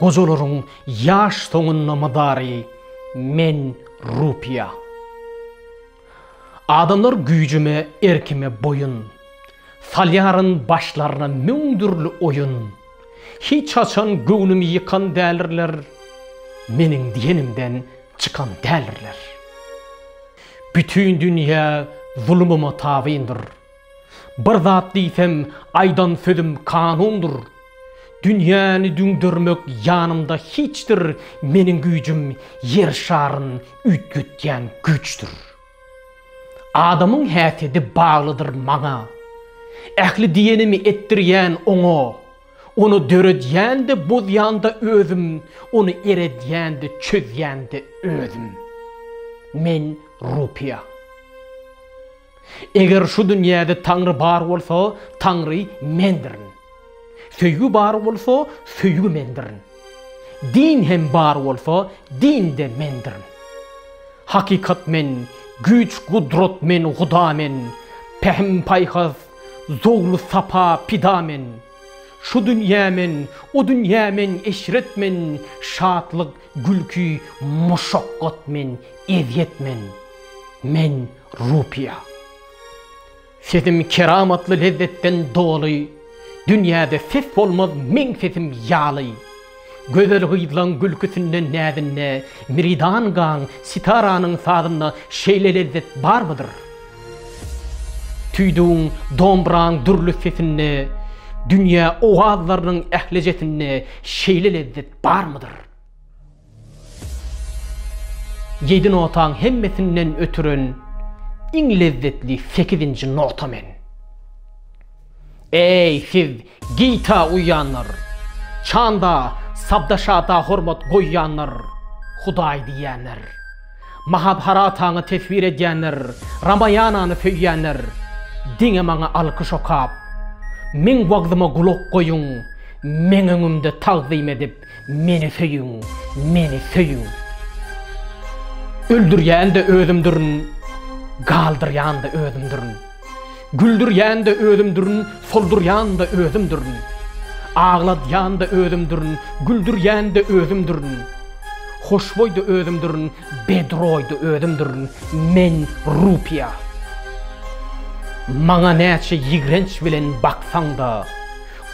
Gojalaryň ýaş soňunda mydary men rupiýa. Adamlar güýjüme, erkime boýun. Salýaryn başlaryna müň dürli oýun. Hiç haçan göwnümi ýykan dälirler, meniň diýenimden çykan dälirler. Bütin dünýä zulumyma tabyndyr. Bir zat diýsem, aýdan sözüm kanundyr. Dünýäni düňdermek ýanymda hiçdir, meniň güýjüm ýer şaryn üýtgetýän güýçdir. Adamyň häsiýedi baglydyr maňa. Ähli diýenimi etdirýän oňa. Ony döredýän-de, bozýan-da özüm, ony eredýän-de, çözýän-de özüm. Men Rupiýa. Eger şu dünýäde Taňry bar bolsa, Taňry mendirin. Söýgi bar bolsa, söýgi mendirin. Din hem bar bolsa, din-de mendirin. Hakykat men, güýç-gudrat men, Huda men, pähim-paýhas, zowlu-sapa, pida men. Şu dünýä men, o dünýä men, eşret men, şatlyk, Gülki muşakgat men ezýet men men rupiýa Sesim keramatly lezzetden doly Dünýäde ses bolmaz meň sesim ýaly Gözel gyzlaň gülküsinden näzinde Miridan gaň sitaranyň sazynda Şeýle lezzet barmydyr? Tüýdügiň dombraň dürli sesinde Dünýä owazlarynyň ählijesinde Şeýle lezzet barmydyr? Ýedi notaň hemmesinden ötüren iň lezzetli sekizinji nota men. Eý, siz gita uýýanlar, çanda, sabda-şada hormat goýýanlar, Hudaý diýýänler! Mahabharataňy teswir edýänler, Ramaýanany söýýänler, diňe maňa alkyş okap, meň wagzyma gulak goýuň, meň öňümde tagzym edip, meni söýüň, meni söýüň. Öldürýän-de özümdirin, galdyrýan-da özümdirin. Güldürýän-de özümdirin, soldurýan-da özümdirin. Agladýan-da özümdirin, güldürýän-de özümdirin. Hoşboý-da özümdirin, bedroý-da özümdirin. Men rupiýa. Maňa näçe ýigrenç bilen baksaň-da,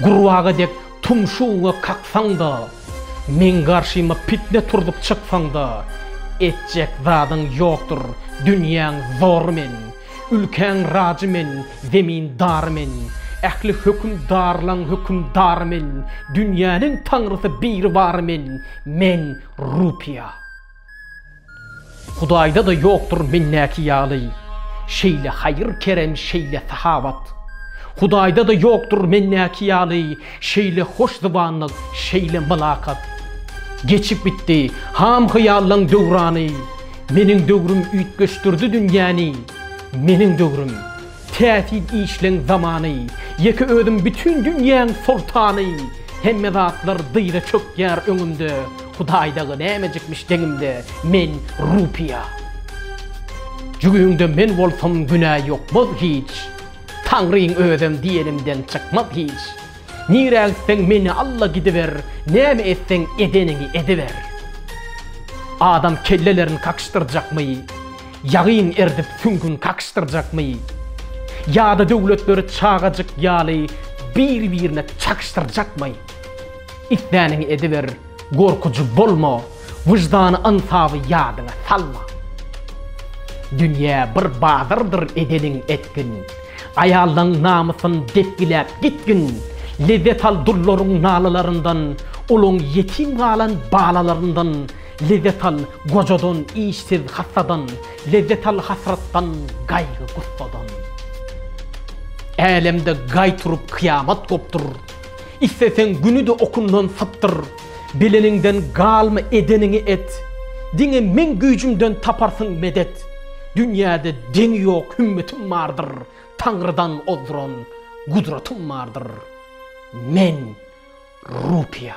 gurbaga dek tumşugyňy kaksaň-da, meň garşyma pitne turzup çyksaň-da, etjek zadyň ýokdur, dünýäň zory men. Ülkäň rajy men, zemin dary men, Ähli höküm darlaň höküm dary men, Dünýäniň taňrysy biri bary men, Men, Rupiýa. Hudaýda-da ýokdur mendäki ýaly, Şeýle haýyr-kerem, şeýle sahawat. Hudaýda-da ýokdur mendäki ýaly, Şeýle hoş zybanlyk, şeýle mylakat. Geçip gitdi, ham-hyýallaň döwrany, Meniň döwrüm üýtgeşdirdi dünýäni Meniň döwrüm, täsin işleň zamany Ýeke özüm bütin dünýäň soltany Hemme zatlar dyza çökýär öňümde Hudaý dagy nämejikmiş deňimde Men rupiýa Jügüňde men bolsam günä ýokmaz hiç Taňryň özem diýenimden çykmaz hiç Nirä gitseň meni alla gidiber näme etseň edeniňi ediber Adam kellelerin kakyşdyrjakmy Ýagyn erdip süňgün kakyşdyrjakmy Ýada döwletleri çagajyk ýaly bir birine çakyşdyrjakmy Isläniňi ediber. Gorkujy bolma, wyždany-ynsaby ýadyňa salma. Dünýä bir bazardyr edeniň etgin. Aýallaň namysyn depgiläp gitgin. Lezzet al dullaryň nalalaryndan, uluň ýetim galan balalaryndan. Lezzet al gojadan, işsiz, hassadan. Lezzet al hasratdan, gaýgy-gussadan. Älemde gaý turup kyýamat gopdur. Isleseň günüde okundan sypdyr, Bileniňden galma edeniňi et, Diňe meň güýjümden taparsyň medet, Dünýäde deňi ýok hümmetim bardyr, Taňrydan ozduran gudratym bardyr, Men, Rupiýa.